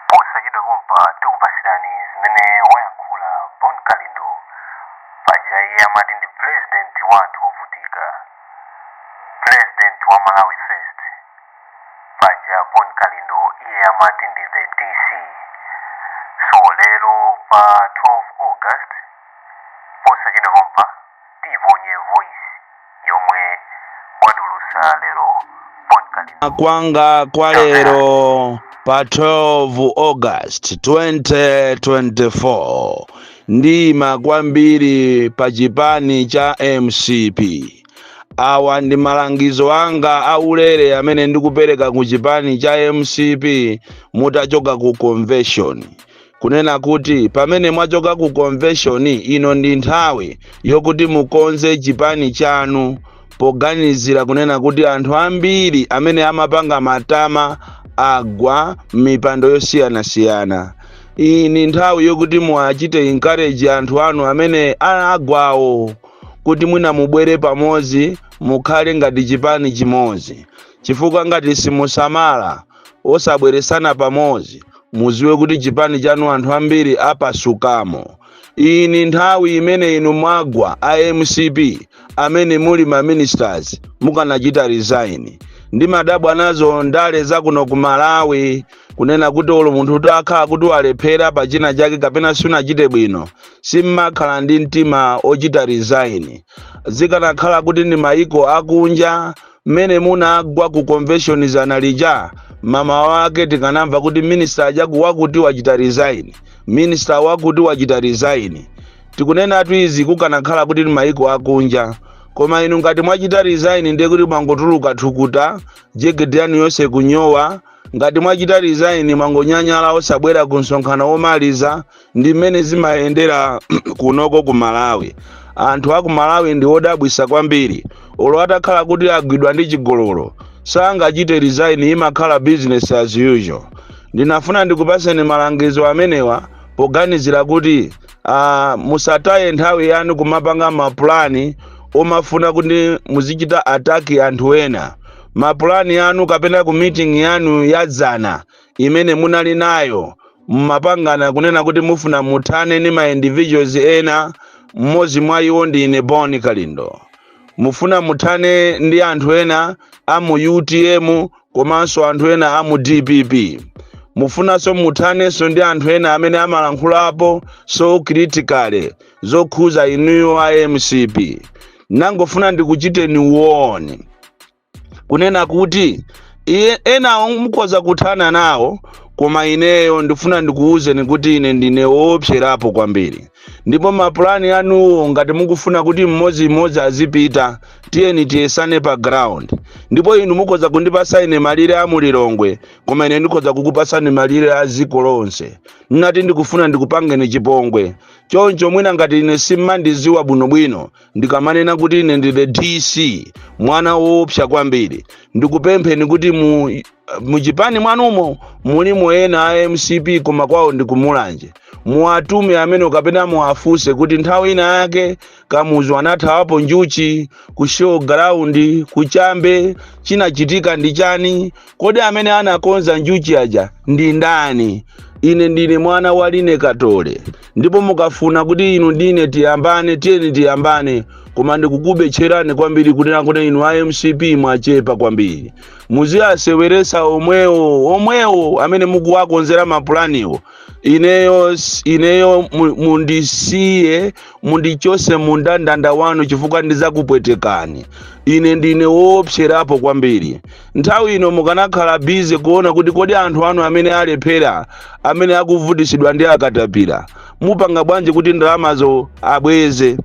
posachedwa pompa tikupasirani zimene wayankhula bon kalindo paja iye amati ndi president wa anthu ovutika president wa malawi first paja bon kalindo iye amati ndi the dc so lero pa 12 august posachedwa pompa tiponye voice yomwe watulusa lero bon kalindo kwanga kwa lero pa 12 august 2024 ndiima kwambiri pa chipani cha mcp awa ndi malangizo anga aulere amene ndikupereka ku chipani cha mcp mutachoka ku convention kunena kuti pamene mwachoka ku convention ino ndi nthawi yokuti mukonze chipani chanu poganizira kunena kuti anthu ambiri amene amapanga matama agwa m'mipando yosiyanasiyana iyi ndi nthawi yokuti muwachite encourage anthu anu amene agwawo kuti mwina mubwere pamodzi mukhale ngati chipani chimodzi chifukwa ngati simusamala osabweresana pamodzi muziwe kuti chipani chanu anthu ambiri apasukamo iyi ni nthawi imene inu mwagwa a mcp amene muli ma ministers mukanachita resign ndimadabwa nazo ndale zakuno ku malawi kunena kuti olo munthu utakhala kuti walephera pa china chake kapena sunachite bwino simmakhala ndi mtima ochita resign zikanakhala kuti ndi maiko akunja mmene munagwa ku convention zana lija mamawa wake tikanamva kuti minister ajaku wakuti wachita resign minister wakuti wachita resign tikunenatu izi kukanakhala kuti ndi maiko akunja koma inu ngati mwachita resign ndiye kuti mwangotuluka thukuta jekete yanu yonse kunyowa ngati mwachita resign mwangonyanyala osabwera ku msonkhano womaliza ndi mmene zimayendera kunoko ku malawi anthu a ku malawi ndi odabwisa kwambiri olo atakhala kuti agwidwa ndi chigololo sangachite resign imakhala business as usual ndinafuna ndikupaseni malangizo amenewa poganizira kuti uh, musataye nthawi yanu kumapanga mapulani omafuna kuti muzichita attack anthu ena mapulani anu kapena ku meeting yanu yadzana imene munali nayo mmapangana kunena kuti mufuna muthane ndi ma individuals ena mmodzi mwa iwo ndi ine bon kalindo mufuna muthane ndi anthu ena a mu utm komanso anthu ena a mu dpp mufunanso muthanenso ndi anthu ena amene amalankhulapo so critically zokhuza inuyo a mcp nangofuna ndikuchiteni warn kunena kuti iye enawo mukhoza kuthana nawo koma ineyo ndifuna ndikuwuzeni kuti ine ndine woopserapo kwambiri ndipo mapulani anuwo ngati mukufuna kuti mmodzimmodzi azipita tiyeni tiyesane pa ground ndipo inu mukhoza kundipasa ine malire a mulilongwe koma ine ndikhoza kukupasani malire a dziko lonse nnati ndikufuna ndikupangeni chipongwe choncho mwina ngati ine simmandiziwa bwinobwino ndikamanena kuti ine ndi the dc mwana woopsa kwambiri ndikupempheni kuti muchipani mwanumo mulimo ena a mcp koma kwawo ndikumulanje muwatume amene kapena muwafunse kuti nthawi ina yake kamuzu anathawapo njuchi ku show ground kuchambe chinachitika ndi chani Kodi amene anakonza njuchi aja ndi ndani? Ine ndine mwana wa Line Katole, ndipo mukafuna kuti inu ndine tiyambane, tiyeni tiyambane, koma ndikukubetcherani kwambiri kunena kuti inu a mcp mwachepa kwambiri. Muziwaseweresa omwewo omwewo amene mukuwakonzera mapulaniwo. Ineyo s- ineyo mu- mundisiye mundichose mu ndandanda wanu chifukwa ndizakupwetekani. Ine ndine woopserapo kwambiri. Nthawi ino mukanakhala busy kuona kuti kodi anthu anu amene alephera, amene akuvutisidwa ndi akatapira, mupanga bwanji kuti ndalamazo abweze.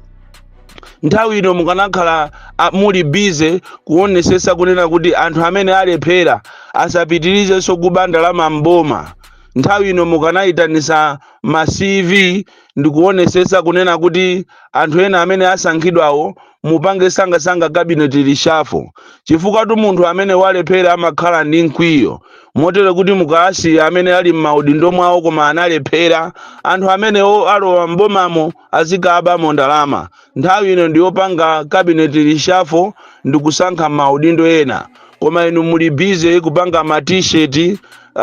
Nthawi ino mukanakhala a, muli busy kuonesesa kunena kuti anthu amene alephera asapitirizenso kuba ndalama m'boma. Nthawi ino mukanayitanisa ma CV ndikuonesesa kunena kuti anthu ena amene asankhidwawo mupange sangasanga cabinet reshuffle chifukwatu munthu amene walephera amakhala ndi mkwiyo motero kuti mukaasiya amene ali m'maudindo mwawo koma analephera anthu amenewo alowa m'bomamo azikabamo ndalama Nthawi ino ndi yopanga cabinet reshuffle ndi kusankha ma udindo ena. Koma inu muli busy kupanga ma t-shirt uh,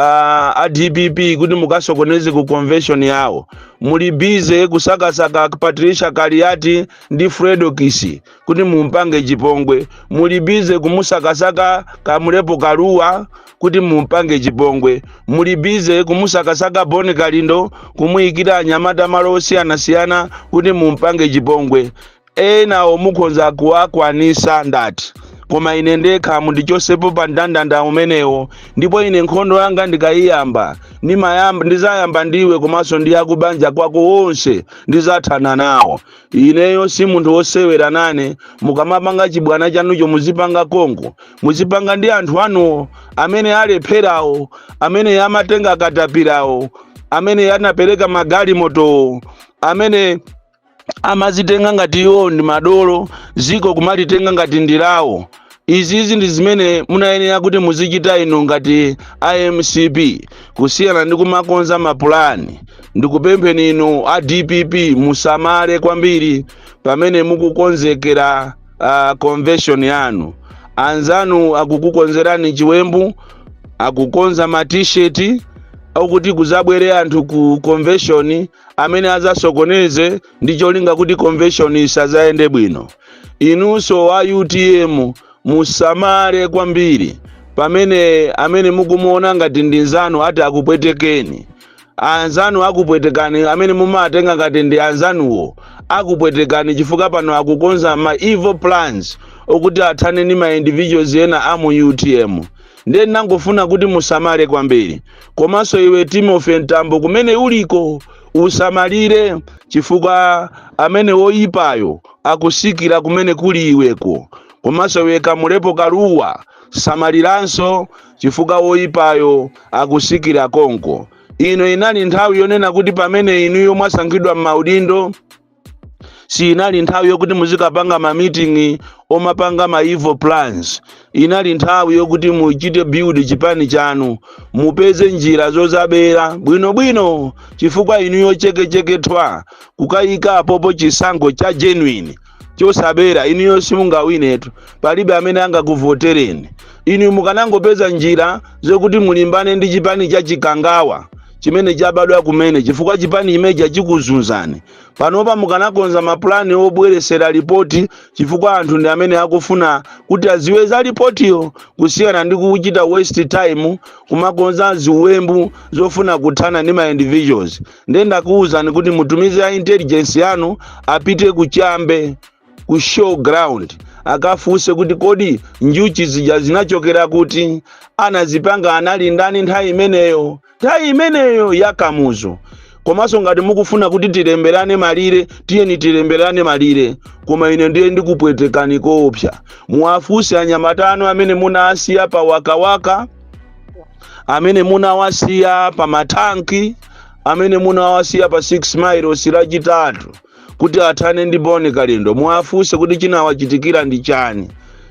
a dpp kuti mukasokoneze ku convention yawo. Muli busy kusakasaka Patricia Kaliati ndi Fredokiss kuti mumpange chipongwe. Muli busy kumusakasaka Kamulepo Kaluwa kuti mumpange chipongwe muli busy kumusakasaka bon kalindo kumuyikira anyamata malo osiyanasiyana kuti mumpange chipongwe enawo mukhonza kuwakwanisa ndati koma ine ndekha mundichosepo pa mndandanda umenewo ndipo ine nkhondo yanga ndikayiyamba ndizayamba ndiwe komanso ndi akubanja kwako onse ndizathana nawo ineyo si munthu wosewera nane mukamapanga chibwana chanucho muzipanga konko muzipanga ndi anthu anuwo amene alepherawo amene amatenga katapirawo amene anapereka magalimotowo amene amazitenga ngati iwo ndi madolo ziko kumalitenga ngati ndilawo Izizi ndi zimene munayenera kuti muzichita inu ngati a mcp kusiyana ndi kumakonza mapulani ndikupempheni inu a dpp musamale kwambiri pamene mukukonzekera uh, convention yanu anzanu akukukonzerani chiwembu akukonza ma t-shirt akuti kuzabwere anthu ku convention amene azasokoneze ndi cholinga kuti convention isazayende bwino inunso a utm musamale kwambiri pamene amene mukumuona ngati ndi nzanu ati akupwetekeni anzanu akupwetekani amene mumatenga ngati ndi anzanuwo akupwetekani chifukwa pano akukonza ma evil plans okuti athane ndi ma individuals ena a mu utm ndiye ndimangofuna kuti musamale kwambiri komanso iwe timothy mtambo kumene uliko usamalire chifukwa amene woyipayo akusikira kumene kuli iweko komanso iwe kamulepo kaluwa samaliranso chifukwa woyipayo akusikira konko ino inali nthawi yonena kuti pamene inuyo mwasankhidwa m'maudindo siinali nthawi yokuti muzikapanga ma meeting omapanga ma evil plans inali nthawi yokuti muchite build chipani chanu mupeze njira zozabera bwinobwino chifukwa inuyo chekecheke ithwa kukayika apopo chisankho cha genuine chosabera inuyo simungawinetu palibe amene angakuvotereni inu mukanangopeza njira zokuti mulimbane ndi chipani cha chikangawa chimene chabadwa kumene chifukwa chipani chimene chija chikuzunzani panopa mukanakonza mapulani obweresera lipoti chifukwa anthu ndi amene akufuna kuti aziwe za lipotiyo kusiyana ndi kuchita waste time kumakonza ziwembu zofuna kuthana ndi ma individuals ndiye ndakuwuzani kuti mutumize a intelligence yanu apite ku chambe ku show ground akafunse kuti kodi njuchi zija zinachokera kuti anazipanga anali ndani nthawi imeneyo nthawi imeneyo ya kamuzu komanso ngati mukufuna kuti tilemberane malire tiyeni tilemberane malire koma ine ndiye ndikupwetekani koopsa muwafunse anyamata anu amene munawasiya pa wakawaka amene munawasiya pa mathanki amene munawasiya pa 6 miles lachitatu kuti athane ndi boni kalindo muwafunse kuti chinawachitikira ndi chani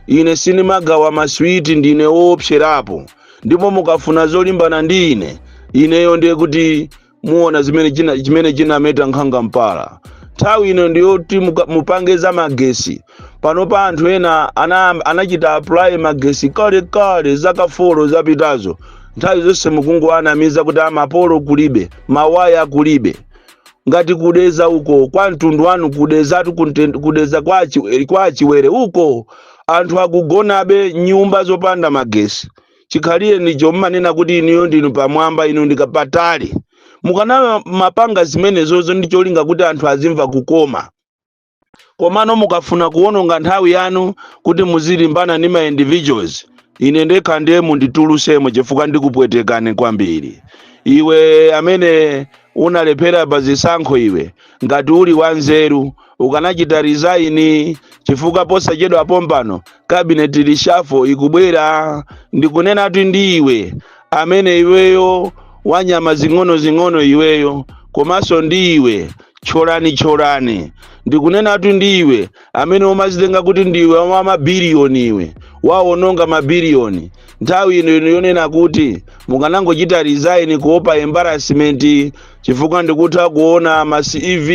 ine sindimagawa maswiti ndine woopserapo ndipo mukafuna zolimbana ndi ine ineyo ndiye kuti muona chimene chinameta nkhanga mpala nthawi ino ndiyoti mupange za magesi panopa anthu ena anachita apply magesi kale kale zaka folo zapitazo nthawi zonse mukungowanamiza kuti a mapolo kulibe mawaya kulibe ngati ku Dedza uko kwa mtundu wanu ku Dedzatu kunte- ku Dedza kwa achi- kwa a Chiwere uko anthu akugonabe nyumba zopanda magesi chikhalirenicho mmanena kuti inuyo ndinu pamwamba inu ndikapatali mukanamapanga zimenezozo ndi cholinga kuti anthu azimva kukoma komano mukafuna kuwononga nthawi yanu kuti muzilimbana ndi ma individuals ine ndekha ndiye munditulusemo chifukwa ndikupwetekani kwambiri iwe amene unalephera pa zisankho iwe ngati uli wanzeru ukanachita resign chifukwa posachedwa pompano cabinet reshuffle ikubwera ndikunenatu ndi iwe amene iweyo wanyama zing'ono zing'ono iweyo komanso ndi iwe Tcholani, tcholani! Ndikunenatu ndi iwe, amene umazitenga kuti ndiwe wa mabiliyoni iwe, wawononga mabiliyoni. Nthawi ino ino yonena kuti mukanangochita resign kuopa embarrassment chifukwa ndikutha kuona ma CV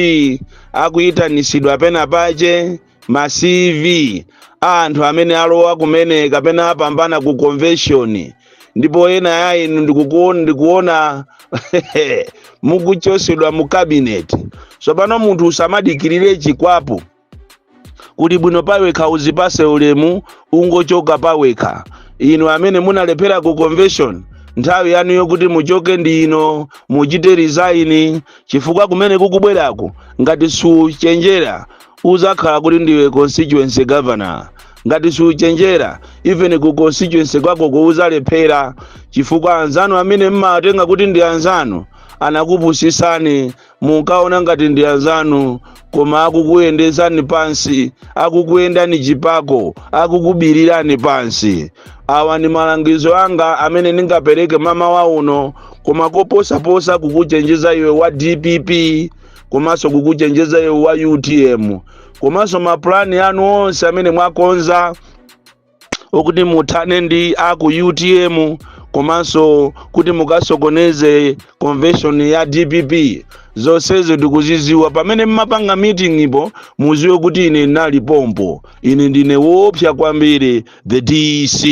akuitanisidwa pena pache. ma cv a anthu amene alowa kumene kapena apambana ku convention ndipo ena ya inu ndikukuona ndikuona mukuchosedwa mu cabinet tsopano munthu usamadikirire chikwapu kuli bwino pawekha uzipase ulemu ungochoka pawekha inu amene munalephera ku convention nthawi yanu yokuti muchoke ndi ino muchite resign chifukwa kumene kukubweraku ngati suchenjera Uzakhala kuti ndiwe constituency governor ngati suchenjera even ku constituency kwakoko uzalephera chifukwa anzanu amene mmawatenga kuti ndi anzanu anakupusisani munkaona ngati ndi anzanu koma akukuyendesani pansi akukuyendani chipako akukubirirani pansi awa ndi malangizo anga amene ndingapereke mamawa uno koma koposaposa kukuchenjeza iwe wa dpp komanso kukuchenjeza iwe wa utm komanso mapulani anu onse amene mwakonza okuti muthane ndi aku utm komanso kuti mukasokoneze convention ya dpp zonsezo ndikuziziwa pamene mmapanga meetingpo muziwe kuti ine ndinali pompo ine ndine woopsa kwambiri the dc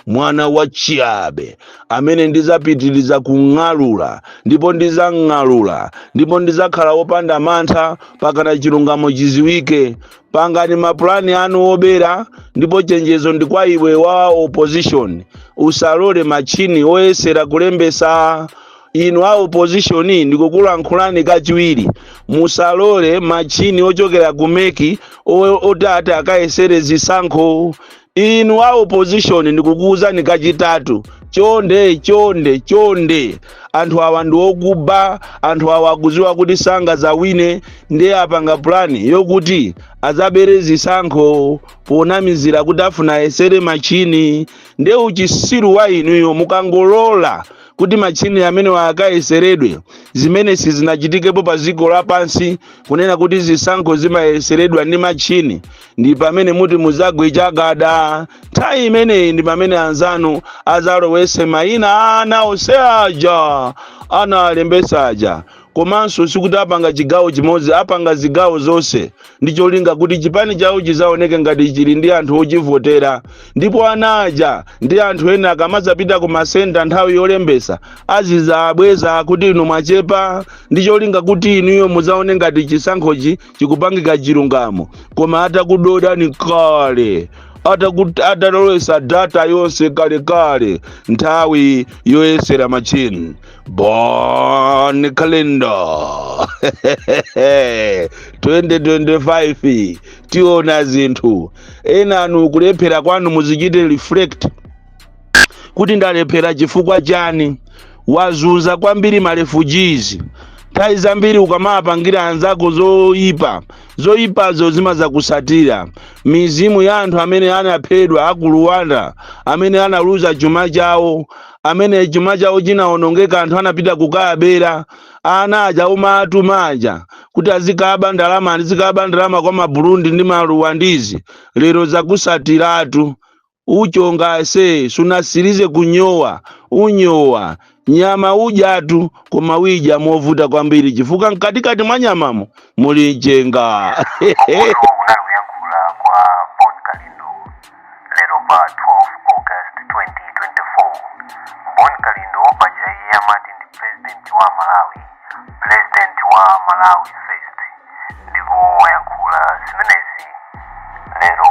mwana wa chiabe amene ndizapitiliza kung'alula ndipo ndizang'alula ndipo ndizakhala wopanda mantha pakana chilungamo chiziwike pangani mapulani anu obera ndipo chenjezo ndi kwa iwe wa opposition usalole machini oyesera kulembesa inu a opposition ndikukulankhulani kachiwiri musalole matchini ochokera ku meki o- oti ati akayesere zisankho inu a opposition ndikukuwuzani kachitatu chonde chonde chonde anthu awa ndi okuba anthu awa akuziwa kuti sangazawine ndiye apanga pulani yokuti azabere zisankho ponamizira kuti afuna ayesere matchini ndiye uchisiru wa inuyo mukangolola kuti matchini amenewa akayeseredwe zimene sizinachitikepo pa dziko lapansi kunena kuti zisankho zimayeseredwa ndi matchini ndi pamene muti muzagwe chagada nthawi imeneyi ndi pamene anzanu azalowese mayina a ana onse aja analembesa aja komanso sikuti apanga chigawo chimodzi apanga zigawo zonse ndi cholinga kuti chipani chawo chizaoneke ngati chili ndi anthu ochivotera ndipo ana aja ndi anthu ena akamadzapita ku masenta nthawi yolembesa azizabweza kuti inu mwachepa ndi cholinga kuti inuyo muzaone ngati chisankhochi chikupangika chilungamo koma atakudodani kale atalowesa data yonse kalekale nthawi yoyesera machini Bon Kalindo 2025 tiona zinthu enanu kulephera kwanu muzichite reflect kuti ndalephera chifukwa chani wazunza kwambiri marefugees nthawi zambiri ukamapangira anzako zoyipa zoyipazo zimazakusatira mizimu ya anthu amene anaphedwa aku rwanda amene analuza chuma chawo amene chuma chawo chinawonongeka anthu anapita kukawabera ana aja umatuma aja kuti azikaba ndalama azikaba ndalama kwa maburundi ndi maruwandizi lero zakusatiratu uchonga nase sunasirize kunyowa unyowa nyama udyatu koma uidya movuta kwambiri chifukwa mkatikati mwa nyamamo muli mchenga Uku kunali kuyankhula kwa Bon Kalindo lero pa 12 august 2024 bon kalindo paja iye amati ndi pulezidenti wa malawi pulezidenti wa malawi first ndipo wayankhula zimenezi lero